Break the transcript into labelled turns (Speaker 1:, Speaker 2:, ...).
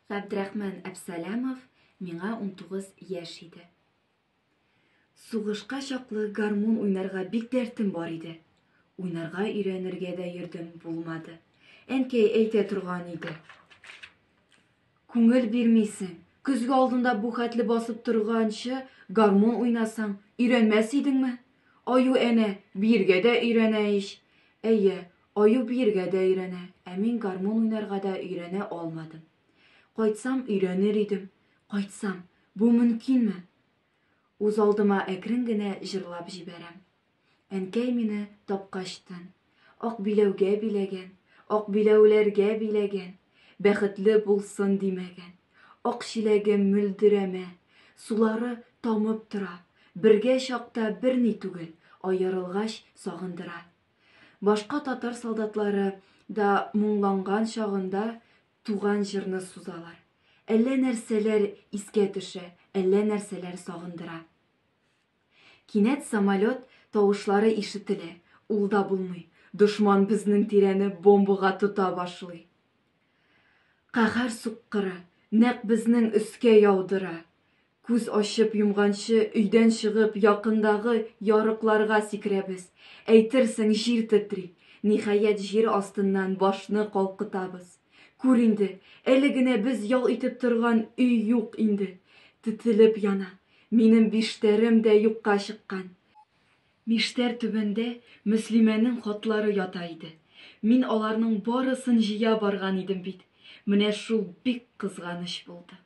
Speaker 1: Габдрахман Әпсәләмов миңа 19 яшь иде. Сугышка чаклы гармун уйнарга бик дәртем бар иде. Уйнарга өйрәнергә дә йөрдем, булмады. Әнкәй әйтә торган иде. Күңел бирмисең. Көзге алдында бу хәтле басып торганчы гармун уйнасаң, өйрәнмәс идеңме? Аю әнә, биергә дә өйрәнә ич. Әйе, Аю биергә дә өйрәнә, ә мин гармун уйнарга да өйрәнә алмадым. Кайтсам, өйрәнер идем. Кайтсам, бу мөмкинме? Үзалдыма әкрен генә җырлап җибәрәм. Әнкәй мине тапкач тын. Ак биләүгә биләгән, ак биләүләргә биләгән, Бәхетле булсын димәгән. Ак чиләгем мөлдерәмә, сулары тамып тора, Бергә чакта берни түгел, аерылгач сагындыра. Башка татар солдатлары да моңланган чагында туган җырны сузалар. Әллә нәрсәләр искә төшә, әллә нәрсәләр сагындыра. Кинәт самолет тавышлары ишетелә, ул да булмый, дошман безнең тирәне бомбага тота башлый. Каһәр суккыры, нәкъ безнең өскә яудыра. Күз ачып йомганчы өйдән чыгып якындагы ярыкларга сикерәбез. Әйтерсең җир тетри. Ниһаять җир астыннан башны калкытабыз. Күр инде, әле генә без ял итеп торган өй юк инде. Тетелеп яна. Минем биштәрем дә юкка чыккан. Миштәр түбәндә Мөслимәнең хатлары ята иде. Мин аларның барысын җыя барган идем бит. Менә шул бик кызганыч булды.